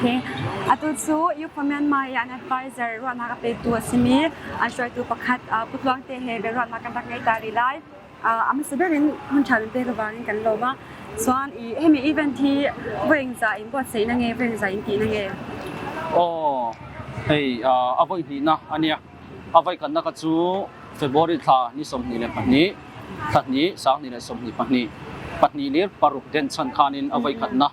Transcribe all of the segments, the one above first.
Atu cu Youth for Myanmar i an advisor ruahnak a petu a simi an hruaitu pakhat Pu Tluang te he biaruahnak kan rak ngei ta rih lai. A hmasa ber in hmun ṭha lemte ka vang in kan lawm a. Cun himi event hi voing za in buatsaih na ngei, voing za in tih na ngei. Aw, hei a voi hnihnak a nia. A voi kannak cu February thla ni sawmhnih le pahnih, thla hnih, sang hnih le sawmhnih pahnih, pahnih le paruk den chan khan in a voi khatnak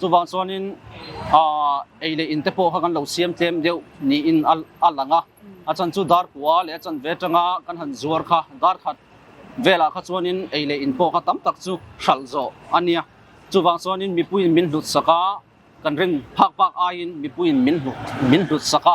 Cubangcuan in ei le inn te pawh kha kan lo siam tlem deuh ni in a lang a. A chan cu dar pua le a chan ve tanga kan han zuar kha dar khat vela kha chuan in ei le inn pawh kha tam tak chu hralh zawh ania. Cubang chuan in mipui in min hlut saka kan ring phak phak aiin mipui in min hlut saka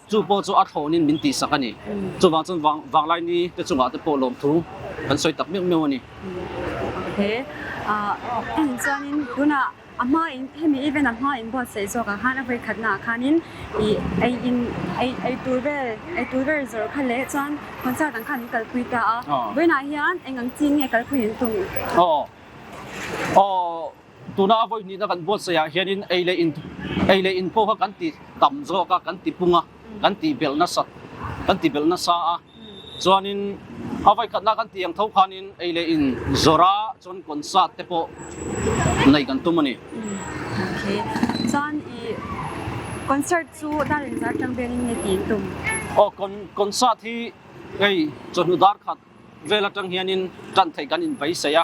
Cu paw cu a thlawn in min tisak ani. Cubang cun Vanglai ni te cungah te paw lawm thu an soi tak meuh meuh ani. Okay. Uh, cun in tunah a hma in hemi even a hma in buat sei sok a han a voi khat na khan in i ei in ei ei tur vel ei tur vel zor kha le chon concert ang khan in kal pui ta a boina hian engang chi nge kal pui in tung oh oh tunah voi hnih na kan vote saya hian in ei le in ei le in pho kha kan ti tam zawk a kan ti pung a kan ti bel nasa kan ti bel nasa a chuanin a voi khat na kan ti ang tho khan in ei le in zora chuan concert te pawh nei kan tum ani okay john i concert chu darin zar tang ben in ne ti tum o con concert hi ei chonu dar khat vela tang hian in kan thei kan in bai saya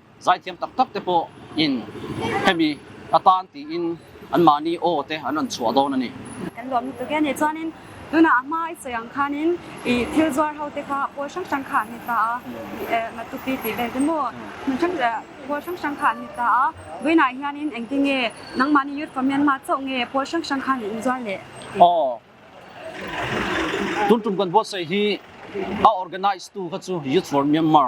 zaithiam taktak te pawh in hemi a tan tiin anmah nih aw te an an chuah dawn ani. kan lawm lutuk e ne chuanin tuna a hma i chawng khan in i thil zuar ho te kha pawl hrang hrang kha ni ta a na tupi ti vel te mo mun hrang pawl hrang hrang kha ni ta a buina hian in engtin nge nangmah ni youth comment ma chaw nge pawl hrang hrang khan in zuar le aw tuntum kan bo sai hi a organize tu kha chu youth for myanmar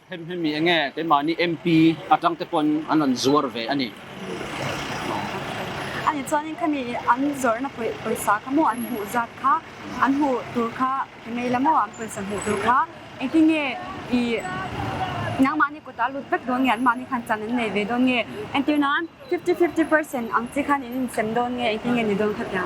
Ṭhenhnemmi a ngei. Keimah nih MP a ṭang te pawn an on zuar ve a ni. Ani cun khami an zornak pawisa kha maw an hmuh zat kha an hmuh tur kha ka ngei la maw an pawisa hmuh tur kha engtin nge i nangmah nih kut a lut vek dawn nge anmah nih khan can an nei ve dawn nge entir nan 50 50% ang chi khan in sem dawn nge engtin nge ni dawn kha tiang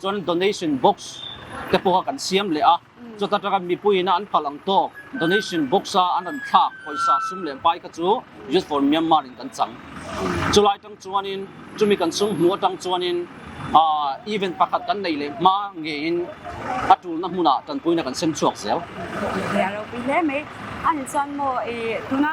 Cun donation box kepaw ah kan siam leh a. Cuta kan mipui in an pal ang to donation box ah an ran thlak pawisa sum le pai ka cu Youth for Myanmar in kan cang. Cu lai tang chuan in cumi kan sung hnu tang chuan in event pakhat kan nei le ma nge in a tul na hmun ah tanpui na kan sem chuak zel. Ya lo pi le mai an chan mo i tuna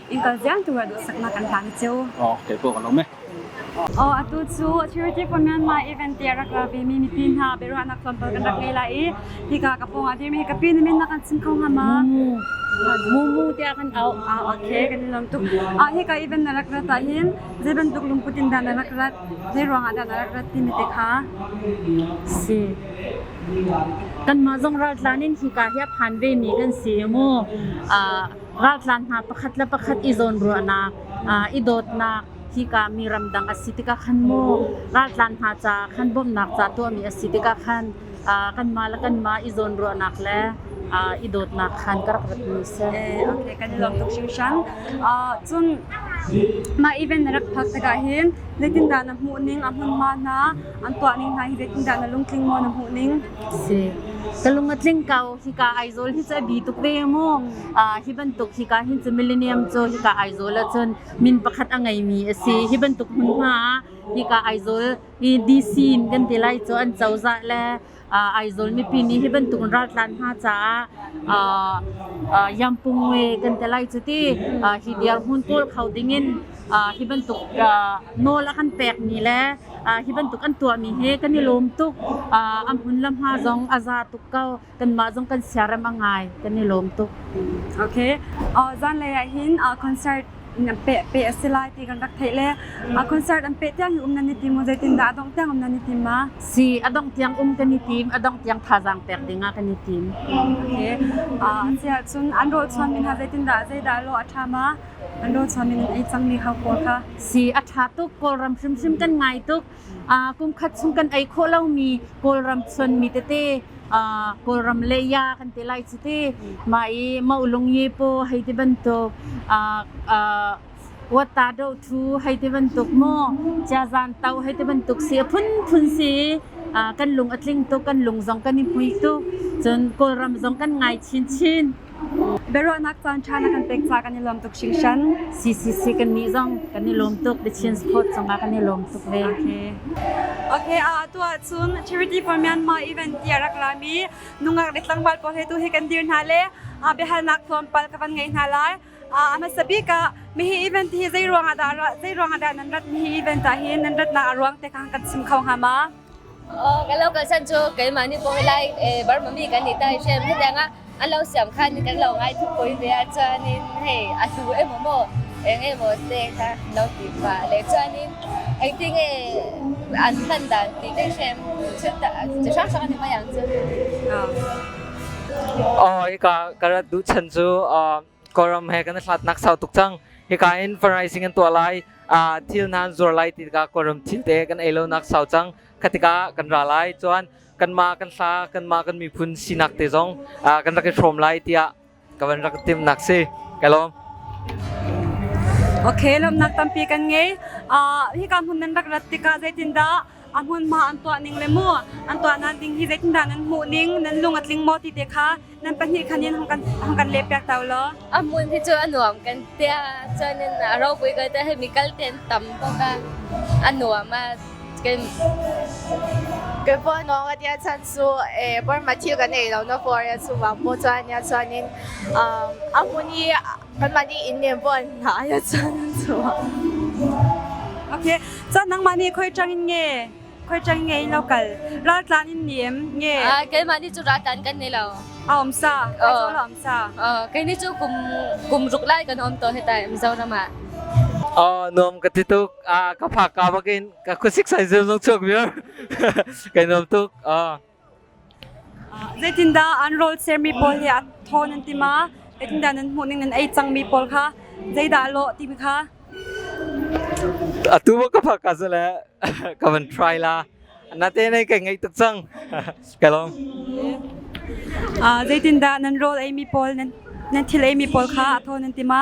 Innka vialte ruat saknak kan hlan cio. Oh, kei pawh kan um e. Oh, atu cu Charity for Myanmar event te rak la ve mi mipi hna beruahnak tlawmpal kan rak ngei la i hika ka pawng ah dirmi hi ka pi nih min nak an sim kho hnga ma mu mu te kan au ah okay kan lom tuk ah hi ka event na rak rat ta hin je bantuk lungput in dan na rak rat je ruang ah dan na rak rat ti mi te kha si kan ma zong ral tlan in hika hi phan ve mi kan si mu a raltlan hna pakhat le pakhat i zawnruahnak, i dawtnak hika mi ramdang a si tikah khan maw raltlan hna ca khan bawmhnak ca tuahmi a si tikah khan kanmah le kanmah i zawnruahnak le i dawtnak khan ka rak ratmi a si. Okay, kan i lawm tuk hringhran. Cun mah event na rak phak tikah hin zeitindah na hmuh ning a hmunhma hna an tuah ning hna hi zeitindah na lungtling maw na hmuh ning? ka lung a tling ko. Hika Aizawl hi cu a bi tuk ve maw? Uh, hi bantuk hika hin cu Millennium cu hika Aizawl ahcun min pakhat a ngeimi a si. Hi bantuk hmunhma ah hika Aizawl i DC in kan ti lai cu an cozah le uh, Aizawl mipi nih hi bantuk in raltlan hna caah uh, uh, Yampungwe kan ti lai cu ti uh, hi dirhmun kawl kho ding in uh, hi bantuk uh, nawl a kan pekmi le Hi bantuk an tuahmi hi kan i lawm tuk. a hmun le hma zong a za tuk ko. Kanmah zong kan siarem a ngai. Kan i lawm tuk. Okay. zanlei ah hin concert in an peh peh a si lai ti kan rak theih le a concert an peh tiang hi um nan i tim zeitin zeitindah a dongh tiang um nan i tim ma? Si, a dongh tiang um kan i tim. A dongh tiang thazaang pek ding ah kan i tim. Okay. a cih ahcun an rawhchuanmi hna zeitindah zeidah lo a ṭha ma? Lawcham in an ei cangmi hau pawl kha. Si a ṭha tuk. Kawlram hrimhrim kan ngai tuk. Kumkhat chung kan ei khawh lomi Kawlram chuanmi tete, Kawlram leia kan ti lai cuti. Mah i maulung yepo hei ti bantuk, wata do ṭhu hei ti bantuk maw, ciazan tau hei ti bantuk si a phunphun si i kan lung a tling tuk, kan lung zong kan i hmui tuk. Cun Kawlram zong kan ngai chinchin. Biaruahnak caanṭha na kan pek ca kan i lawm tuk hringhran. CCC kan nih zong kan i lawm tuk. The Chin Support cungah kan i lawm tuk ve. Okay. Okay, a atu ahcun Charity for Myanmar event ti a rak lami nungak le tlangval pawl he tu hi kan dir hna le a biahalnak tlawmpal ka van ngei hna lai. Uh, a hmasa bik ah mihi event hi zei ruangah dah zei ruangah dah nan ratmi hi event ah hin nan ratnak a ruang te kha kan chim kho hnga ma? Kan local san cu keimah nih kawi lai Burma mi kan nih ta i hrim hetiang ah an lo siam khan kan lo ngai thu poi ve ah chuan in hei a hlu emaw maw eng emaw te kha lo ti fa le chuan in engtin nge an hman dan ti te hrim chu chi hrang hrang an i hmai ang chu. Hika ka rat duh chan cu Kawlram he kan i hlatnak sau tuk cang. Hika in fundraising an tuah lai. Uh, thil nan zuar lai ti tikah Kawlram thilte kan ei lonak sau cang. Khatika kan ra lai. Chuan kanmah kan hla kanmah kan miphun sinak te zong uh, kan rak i hrawm lai tiah ka van rak tim nak si. Ka lawm. Okay, lamnak tampi kan ngei. Uh, hika hmun nan rak rat tikah zeitindah a hmunhma an tuah ning le mu an tuahnak ding hi zeitindah nan hmuh ning nan lung a tling maw ti te kha nan pahnih khan in hung kan hung kan leh piak ta law a hmun hi cu a nuam kan tia chuan in a ropui ko te hemi kal ten tam bawk a a nuam a kan cái po no ga tia chan su e por ma thil kan ei lo no for ya su wang po chuan ya chuan in um a hmun hi Kanmah nih in nem buan hna ya chan so. Okay. Chan nangmah nih khoi chang in nge. Khoi chang nge in lokal. La tlan in nem nge. Ah, keimah nih cu ratan kan nei lo. A om sa. Kai zo la om sa. Uh, kai ni cu kum kum ruk lai kan om to hetai Mizoram ah. Oh, nom ka ti tuk. Ah, ka phak ka makin ka kusik sai zem zong chok mir. Kai nom tuk. Ah. Zeitindah an rawl sermi pawl hi a ṭhawn an ti ma? Zeitindah nan hmuhning nan ei cangmi pawl kha zeidah a lawh timi kha atu ka phak ka si le ka van try la nate nai kai ngaih tuk cang ka lawm zeitindah nan rawl eimi pawl nan thil eimi pawl kha a ṭhawn an ti ma?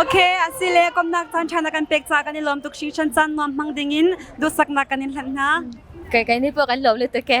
Okay, asile komnak tan thana kan pek ca kan i lawm tuk sing shan chan nuam hmang ding in dusakna kan in hlan hna. Kai kai ni po kan lom le te ke.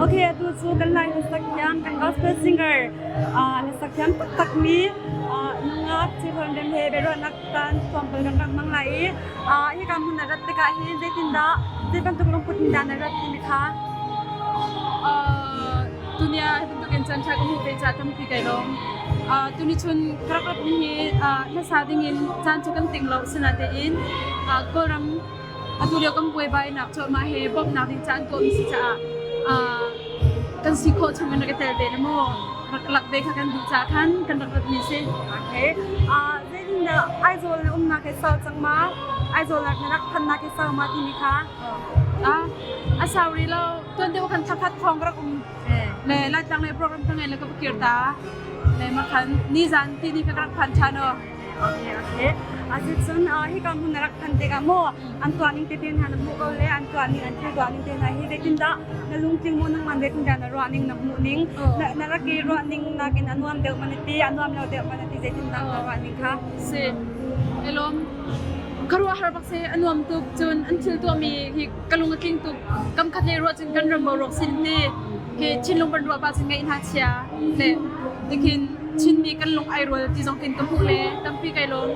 Ok, atu cu kan Lai hlasak thiam, kan gospel singer uh, hlasak thiam taktakmi uh, nungak Chihrawn Rem he beruahnak tan sawmpal kan rak mang lai i uh, hi ka hmun na rat tikah hi zeitindah zei bantuk lungput in dah na rat timi kha tunia bantuk in chan tha ka hmu ve cha tampi kai lom tuni chun karak rat mi hi hlasa ding in chan cu kan ting lo sina te in kawlram Atulio kan buaibainak cu mah he bawmhnak ding caan kawl si caah kan si khawh chungin rak i tel ve le maw rak lak ve kha kan duh caah khan kan rak ratmi si. Okay. Uh, then uh, Aizawl na umnak ke sau cang ma? Aizawl na rak phannak ke sau ma timi kha? Ah, a sauri lo tuan te kan thakhat thong rak um le lai tlang le program ka ngai le ka kir ta le ma khan ni zan ti ni ka rak phan than o Okay, okay. Ahit cun hika hmun rak than tikah maw an tuan ning tete hna na hmu ko le an tuan ning an thil tuan ning te hna hi vetindah na lungtling mo nang man vetindah na ruah ning na hmuh ning na rak i ruah ning nakin a nuam deuh man ti a nuam lo deuh man ti zeitindah na ruah ning kha si elom karua har bak se anuam tuk cun an thil tuami hi ka lung a tling tuk. Kamkhat lei ruah cun kan ram boruak sin te hi thinlung kan ruah bak cun ngaih hna chia le nikhin Chinmi kan lung ai rual ti zong tin ka hmuh le tampi kai lawm.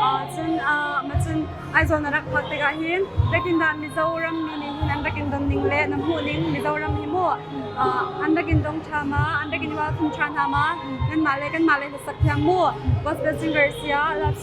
Uh, cun uh, ma cun Aizawl na rak huat tikah hin Biakindah Mizoram mi nih hin an rak in don ning le na hmuh ning Mizoram hi mu uh, an rak in dong ṭha ma an rak in i welcome ṭha hna ma nan mah le kan mah le hla sak thiam mu gospel singer sia love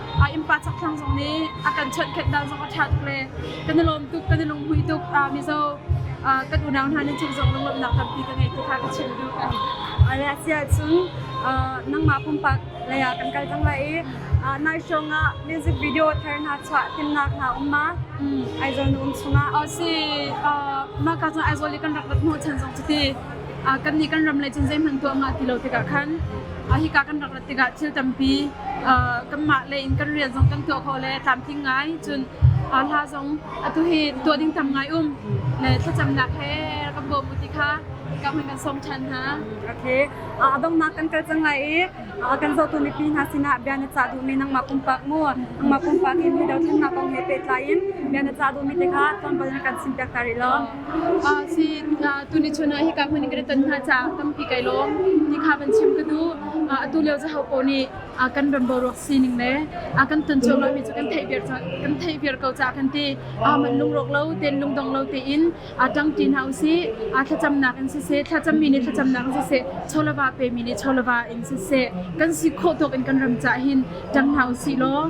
a innpa chakthlang zong nih a kan chawnhkhenh dan zong a ṭha tuk le kan i lawm tuk kan i lunghmuih tuk uh, mizo uh, kan unau hna nih cung zong lunglawmhnak tampi ka ngei ti kha ka chim duh kan a reaksi ahcun uh, nangmah pumpak lei ah kan kal cang lai i uh, nai shong ah music video thar hna chuah timnak hna um ma mm. aizol na um chungah oh si uh, maka cun aizol i kan rak rat mu chan zong cuti kannih kan ram lei cun zeihmanh tuah nga ti lo tikah khan hika kan rak rat tikah thil tampi kanmah lei in kan rian zong kan tuah khawh le tlamtling ngai cun hla zong atu hi tuah ding tam ngai um le thlacamnak he kan bawm u ti kha ka hmin kan sawm ṭhan hna. Okay, a donghnak kan kal cang lai i kan zohtu mipi hna sinah bia na cah duhmi nangmah pumpak mu nangmah pumpak i mi dothlennak kong he pehtlai in bia na cah duhmi te kha tlawmpal na kan simpiak ta rih law si tuni chun ah hika hmun in kan ton hna ca tampi kai lawm ti kha van chim ka du atu leo zaho ko nih kan ram boruak sining le kan ton chuak lomi cu kan theih viar kan theih viar ko ca kan ti man lungrok lo ten lungdong lo te in aa ṭangṭi hna usih, aa thlacamnak in siseh, thlacammi nih thlacamnak in siseh, cholava pemi nih cholava in siseh, kan si khawh tawk in kan ram cah hin ṭang hna usih law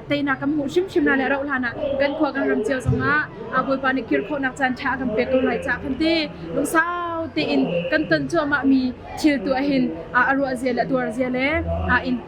teinak kan hmuh hrimhrim hna le rauh hlan ah kan khua kan ram cio zongah Bawipa nih kirkhawhnak caan ṭha a kan pek ko lai cah kan ti lungsau tein kan ton cuahmahmi thil tuah hin a ruahzia le a tuarzia le a in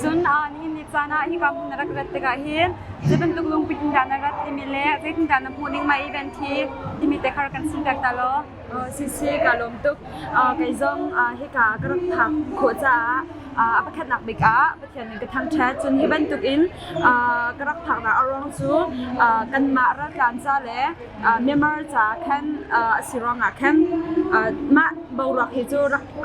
Cun nihin ni caan ah hika hmun na rak rat tikah hin zei bantuk lungput in dah na rat timi le zeitindah na hmuh ning mai event hi timi te kar kan sim pek ta law. Sisi ka lawm tuk kei zong hika ka rak phak khawh caah a pakhatnak bik ah Pathian nih ka thangṭhat cun hi bantukin ka rak phaknak a ruang cu kanmah raltlan ca le Myanmar caah khan a si ruangah khan mah boruak hi cu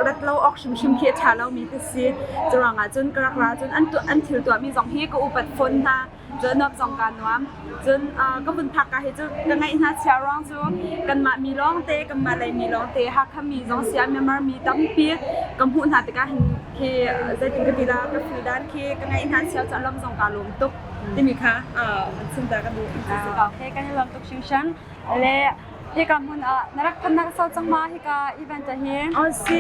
rat lo awk hrimhrim khi a ṭha lomi ti si. Cu ruangah cun ka rak ra cun an thil tuahmi zong hi ka upat fawn hna. Cun nuam zong kaa nuam. Cun ka vun phak ka hi cu ka ngaih hna chia ruang cu kanmah mi lawngte, kanmah lei mi lawngte, Hakha mi zong sia Myanmar mi tampi ka hmuh hna tikah hin khi zeitin ka ti la ka feel dan khi ka ngaih hna chia cu a lam zong kaa lawm tuk. timi kha chunta ka duh okay kan i lawm tuk hringhran le hika hmun ah na rak phannak sau cang ma hika event ah hi oh si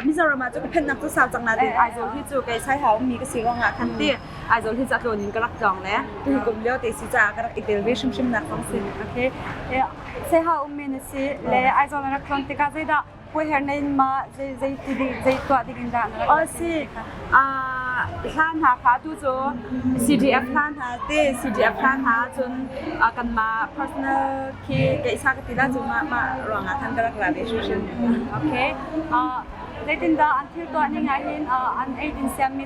mizoram ah cu ka phannak cu sau cang na ti aizol hi cu kai sai hau mi ka si wang ah khan ti aizol hi ca tlon in ka rak tlong le tu hi kum leo te si ca ka rak i tel ve hrim hrim nak kong si okay sai ha um men si le aizol na rak tlong tikah zeidah Khuaher na in mah zei zei zei tuah ding in dah na rak si? hla hna kha tu cu CDF hla hna te CDF hla hna cun kan mah personal khi keisa ka tila cu mah mah ruangah khan ka rak la ve hrim hrim okay zeitin dah an thil tuah ning ah hin an eidin siammi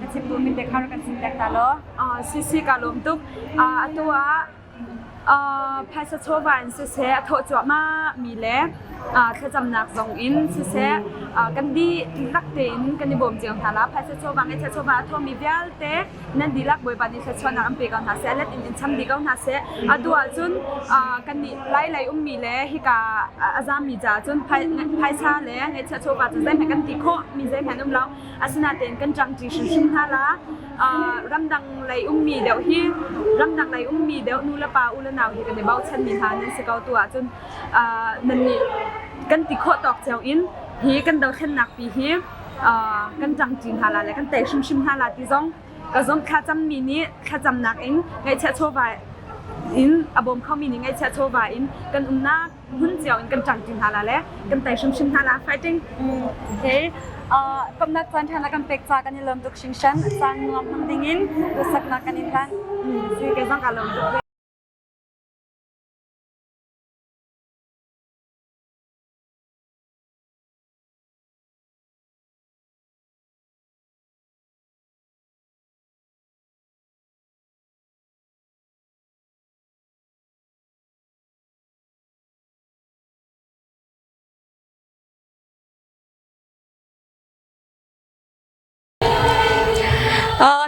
na chimtu mite kha rak kan chimter ta law sisi ka lawm tuk atu ah phaisa chawva in siseh a thawh cuahmah mi le thlacamnak zong in siseh kan di lak tein kan i bawm cio hna la phaisa chawva ngeihchia chawva a thawmi vialte nan dihlak bawipa nih thluachuahnak an pe ko hna seh let in in cham dih ko hna seh atu ahcun kan nih lai lei ummi le hika a zaammi caah cun phaisa le ngeihchia chawva cu zeihmanh kan ti khawh mi zeihmanh um lo Asinain kan ṭangṭi hrimhrim hna la. Ramdang lei ummi deuh hi ramdang lei ummi deuh nulepa ulenau he kan i bochanmi hna nan si ko tu ahcun nannih kan ti khawh tawk cio in hi kan dothlennak pi hi kan ṭangṭi hna la le kan tei hrimhrim hna la ti zong ka zumh thlacammi nih thlacamnak in ngaihchiah chawva in a bawm khomi nih ngaihchiah chawva in kan umnak hun cio in kan ṭang ṭi hna la le kan tai hrimhrim hna la fighting okay uh, kamnak caan ṭhan la kan pek ca kan i lawm tuk hringshan caan nuam hmang ding in duhsaknak kan in hlan si ke zang ka lawm tuk ve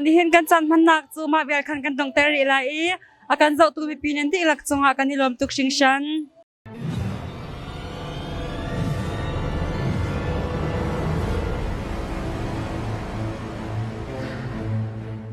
Nihin kan chan hmannak cu mah vial khan kan tong ter rih lai i a kan zohtu mipi nih dihlak cungah kan i lawm tuk hringhran.